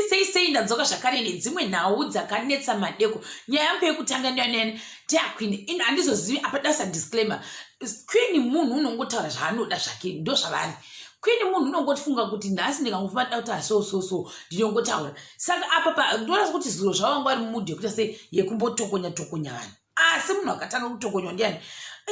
sei sei ndadzoka zvakare nedzimwe nhau dzakanetsa madeko nyaya yangu yekutanga ndiyonene teaqueen ino handizozivi apa dasa disclaimer queen munhu unongotaura zvaanoda zvake ndo zvavari queen munhu unongotifunga kuti nhasi ndikangofuma nda kuti aso so so ndinongotaura saka apa pa ndonasa kuti zuro zvavanga vari mumudhi yekuita sei yekumbotokonya tokonya vanhu asi munhu akatanga kutokonywa ndiyani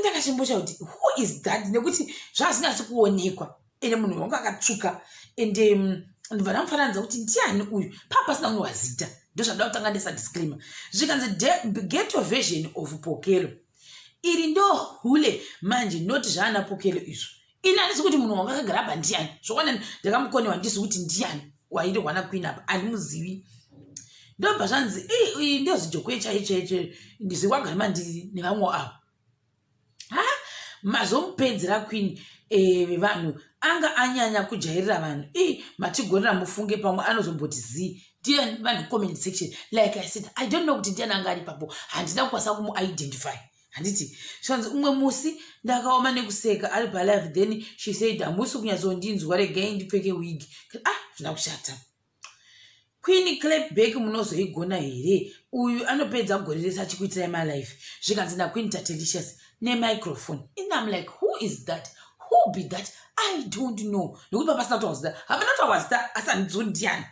ndakachimbocha kuti who is that nekuti zvazinasi kuonekwa ende munhu wangu akatsvuka ende mm, ndibva ndamufananidza kuti ndiani uyu paa pasina kunge wazita ndozvandida kutanga ndesa disclaimer zvikanzi get your version of pokelo iri ndo hule manje not zvaana pokelo izvo ini handisi kuti munhu wanga akagara apa ndiani zvokwana ndakamukonewa ndisi kuti ndiani wairi wana queen apa handimuzivi ndobva zvanzi iyi ndozijokwe chaichaiche ndizvikwagara mandiri nevamwe avo ha mazomupedzera queen eh, vevanhu eh, anga anyanya kujairira vanhu i matigonera mufunge pamwe anozomboti zii ndiye vanhu comment section like i said i don't know kuti ndiani anga ari papo handina kukwanisa kumuidentify handiti zvanzi umwe musi ndakaoma nekuseka ari palive then she said hamusi kunyatsondinzwa regai ndipfeke wig ah zvina kushata Queen Clapback munozoigona here? Uyu anopedza gore rese achikuitirai malife zvikanzi naQueen Tatelicious nemicrophone. And I'm like, who is that? Who be that? I don't know. Nekuti papasina kuti wazita. Hapana kuti wazita asi handiziwo ndiani.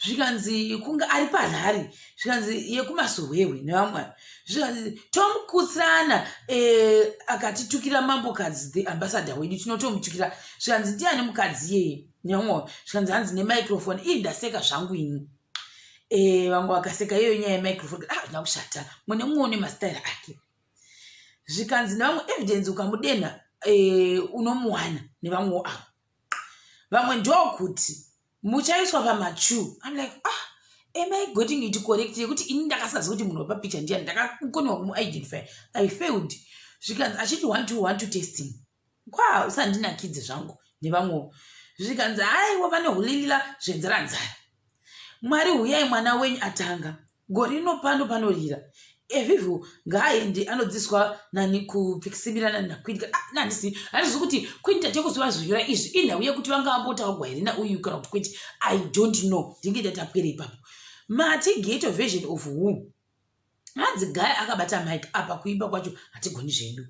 Zvikanzi kunge ari parhari. Zvikanzi yekumasohwewe nevamwe. Zvikanzi Tom Kutsana eh, akatitukira mambokadzi the ambassador wedu tinotomutukira. Zvikanzi ndiani mukadzi yeye? nyamoyo zvikanzi hanzi nemicrofone ii ndaseka zvangu ini eh, vamwe vakaseka iyoyo nyaya yemicrofone ah zvina kushata mune mumwe une mastaira ake zvikanzi nevamwe evidence ukamudenha eh, unomuwana nevamwewo avo vamwe ndokuti muchaiswa pamachu im like ah am i getting it correct yekuti ini ndakasazi kuti munhu wepapicha ndiyani ndakakonewa kumuidentify i failed zvikanzi achiti one to one to testing kwaa usandinakidze zvangu nevamwewo zvikanzi aiwa vane hulilila zvenzira nzara mwari huyai mwana wenyu atanga gore rino pano panorira evivu ngaaendi anodziswa nani kupfikisimira nani nakwini ah, nandisi handizi kuti kwini tate kuti vazonyora izvi inhau yekuti vanga vambotaurwa here nauyu kana kuti kwete i don't know ndinge ndatapwere ipapo mati gate of version of whom hanzi guy akabata mike apa kuimba kwacho hatigoni zvedu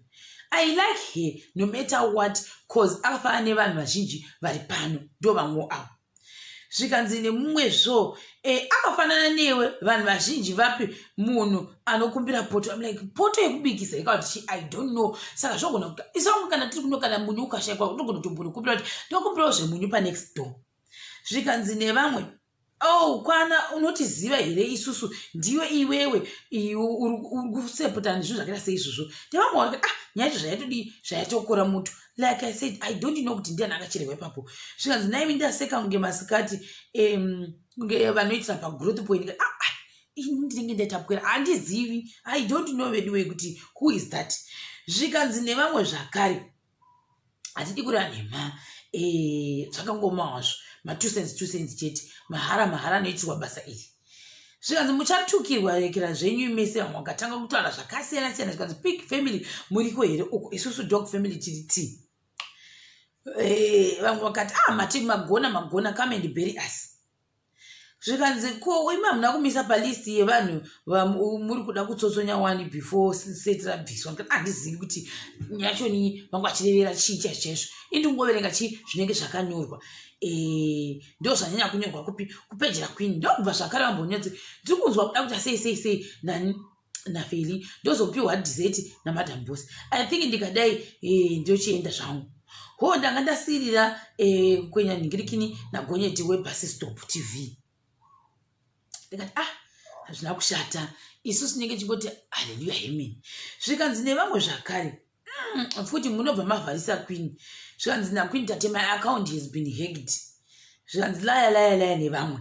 i like her no matter what cause akafanana nevanhu vazhinji vari pano ndo vamwe avo zvikanzi nemumwe zvo e, akafanana newe vanhu vazhinji vapi munhu anokumbira poto am like poto yekubikisa ikati chi i don't know saka zvogona kuti isangu kana tiri kuno kana munyu ukashaikwa unogona kutombonokumbira kuti ndokumbirawo zvemunyu panext door zvikanzi nevamwe Oh, kwana unotiziva here isusu ndiwe iwewe uri kusepota nezvinhu zvakaita seizvozvo ndevamwe wanga ah nyaya yacho zvaitodii zvaitokora mutu like i said i don't know kuti ndiani akacherehwa ipapo zvikanzi naimi ndaseka kunge masikati kunge vanoitira pagrowth point ah, ah, ini ndinenge ndaitapwera handizivi i don't know veduwe kuti who is that zvikanzi nevamwe zvakare hatidi kureva nhema eh, zvakangoma hazvo matwo cents two cents chete mahara mahara anoitirwa basa iri zvikanzi muchatukirwa rekera zvenyu mese vamwe vakatanga kutaura zvakasiyana siyana zvikanzi pig family muriko here uko isusu dog family tiri ti eh, vamwe vakati ah mati magona magona come and bury us zvikanzi ko imi hamuna kumisa palist yevanhu muri kuda kutsotsonya wani before seti rabviswa nekuti handizivi kuti nyachoni vanga vachirevera chii chai chaizvo indi kungoverenga chii zvinenge zvakanyorwa eh, ndo zvanyanya kunyorwa kupi kupejera kwini ndokubva zvakare vambonyatsi ndiri kunzwa kuda kuita sei sei sei nani nafeli ndozopiwa dessert namadam boss i think ndikadai eh, ndochienda zvangu ho ndanga ndasirira eh, kwenya nhingirikini nagonyeti webus stop tv ndikati ah hazvina kushata isu sinenge chingoti haleluya hemeni zvikanzi nevamwe zvakare Mm, futi munobva mavharisa queen zvikanzi naqueen tate my account has been hacked zvikanzi laya laya laya nevamwe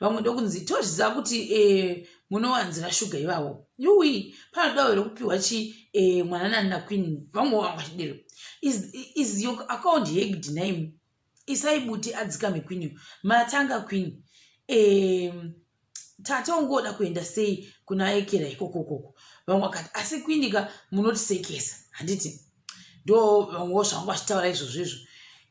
vamwe ndokunzi tozviziva kuti eh, munowanzira shuga ivavo yui panodawo here kupiwa chi eh, mwananani naqueen vamwe vanga vachidero is, is your account hacked name isai buti adzikame queen uyu matanga queen um, tata ungoda kuenda sei kuna ekera ikoko koko vamwe vakati asi queen ka munotisekesa handiti ndo vamwewo zvangu vachitaura izvozvo izvo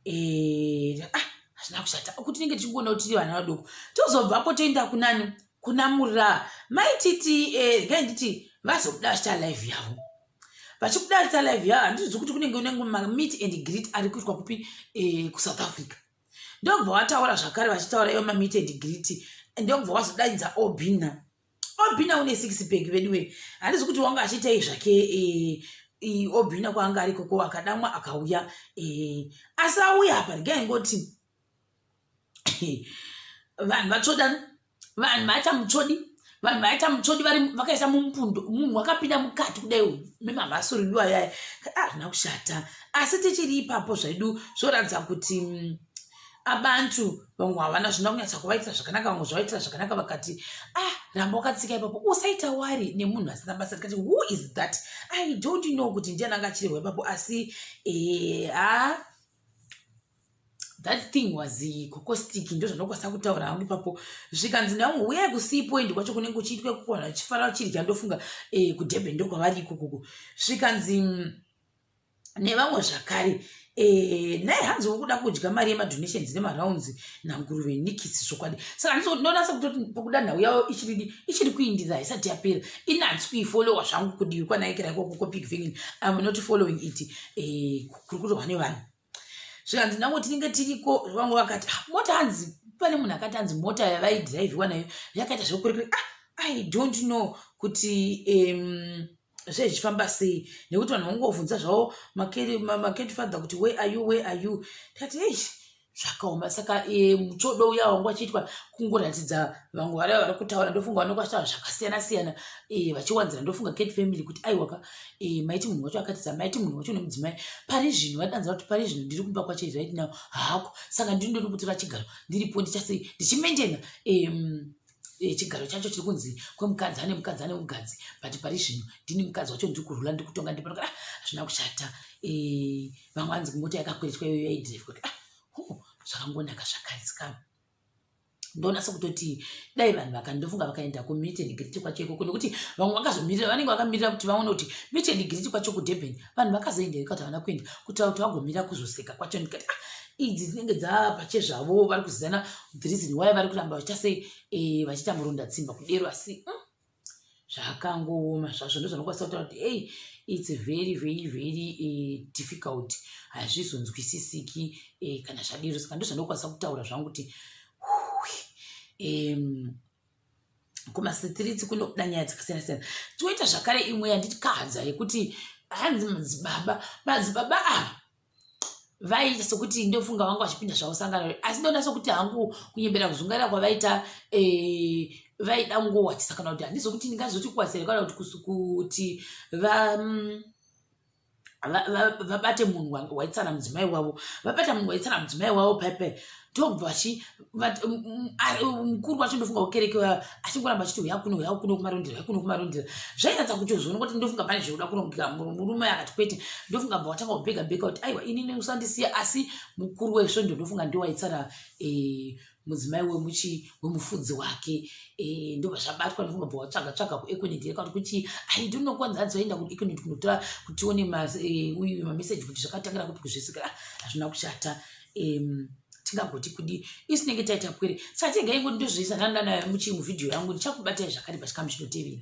eh, ah, hazvina kushata kuti tinenge tichingona kuti tiri vana vadoko tozobvapo toenda kunani kunamurira maititi eh, ngainditi vazobuda vachita live yavo vachikudaritsa live ya handizvi kuti kunenge unenge mameet and greet ari kuitwa kupi eh, kusouth africa ndokubva wataura zvakare vachitaura ivo mameet and greet ndokubva wazodainza obina obina une six bag veduwe handizvi kuti wanga achiitei zvake eh, eh, obina kwaanga ari koko akadamwa akauya asi auya apa regai ngoti vanhu vatsvodana vanhu vaita mutsvodi vanhu vaita mutsvodi vakaisa mumupundo munhu wakapinda mukati kudai memavhasuririwo ayaya azvina ah, kushata asi tichiri ipapo zvedu zvoratidza kuti mm, abantu vamwe havana zvina kunyatsa kuvaitira zvakanaka vamwe zvavaitira zvakanaka vakati ah ramba wakatsika ipapo usaita wari nemunhu asina basa tikati who is that i don't know kuti ndiani anga achirehwa ipapo asi eha eh, ah, that thing was kokostic ndozvandokwanisa kutaura hangu ipapo zvikanzi ndamwe huyai kusipo endi kwacho kunenge kuchiitwa kukwana chifara chirya ndofunga eh, kudurban ndokwavari ikokoko zvikanzi mm, nevamwe zvakare Eh, naye hanzi wokuda kudya mari yemadonations nemaraunds nanguruve nikisi zvokwadi saka ndonasa kutoti pokuda nhau yavo ichiridi ichiri kuindira haisati yapera ini handisi kuifolowa zvangu kudivi kwanaikira ikoko kopik vingin am not following it eh, kuri kutohwa nevanhu zvikanzi nango tinenge tiriko vangu vakati ah, mota hanzi pane munhu akati hanzi mota yavaidhiraivhiwa nayo yakaita zvekurekure ah, i don't know kuti um, zvee zvichifamba sei nekuti vanhu vangovhunza zvavo maketi father kuti where are you where are you tikati ei zvakaoma saka e, muchodo uya wangu vachiitwa kungoratidza vamwe vara vari kutaura ndofunga vanokwashava zvakasiyana siyana e, vachiwanzira ndofunga kate family kuti aiwaka e, maiti munhu wacho akatisa maiti munhu wacho nemudzimai pari zvino vadanza kuti pari zvino ndiri kumba kwacho right now hako saka ndiri ndori kutora chigaro ndiripo ndichasei ndichimentena um, Eh, chigaro chacho chiri kunzi kwemukadzi ane mukadzi ane mugadzi but pari zvino ndini mukadzi wacho ndiri kurula ndiri kutonga ndiri panoka ah, hazvina kushata eh, vamwe anzi mota yakakweretwa iyoyo yaidrivwa ah, zvakangonaka zvakarisika ndonasa kutoti dai vanhu vakandofunga vakaenda kumeet and greet kwacho ikoko nekuti vamwe vakazomirira vanenge vakamirira kuti vaone kuti meet and greet kwacho kudurban vanhu vakazoenda ikati havana kuenda kutaura kuti vagomira kuzoseka kwacho ndikati ah, idzi dzinenge dzapache zvavo vari kuzivana the reason why vari kuramba vachita sei eh, vachiita murunda tsimba kudero asi mm. zvakangooma zvazvo ndozvanokwanisa kutaura kuti ei its very very very eh, difficult hazvizonzwisisiki eh, kana zvadiro saka ndozvanokwanisa kutaura zvangu kuti kumasitiriti kunobuda nyaya dzakasiyana siyana toita zvakare imwe yandikahadza yekuti hanzi madzibaba madzibaba ava vaiita sokuti ndofunga vanga vachipinda zvavosangana re asi ndoona sokuti hangu kunyembera kuzungaira kwavaita eh, vaida ngowachisa kana kuti handizo kuti ndingazoti kuwasere kana kuti kuti va mm, vabate munhu waitsana mudzimai wavo vabata munhu waitsana mudzimai wavo pepe tobva chi mukuru wacho ndofunga kukereke achingoramba achiti huya kuno huya kuno kumarondera huya kuno kumarondera zvairatidza kuti uzviona kuti ndofunga pane zvekuda kunogera murume akati kwete ndofunga bva watanga kubhega bhega kuti aiwa ini neusandisiya asi mukuru wesvondo ndofunga ndiwo waitsara eh, mudzimai wemuchi wemufudzi wake eh, ndobva zvabatwa ndofunga bva watsvaga tsvaga kuekoneti yeka kuti kuti ai ndinokonza adzi vaenda kuekoneti kunotora kutione eh, uyu mameseji kuti zvakatangira kupi kuzvisikira hazvina kushata um, tingagoti kudii isu tinenge taita pwere saka tegai ngoti ndozviisa ndandanayo muchii muvhidhiyo yangu ndichakubatai zvakare pachikamu chinotevera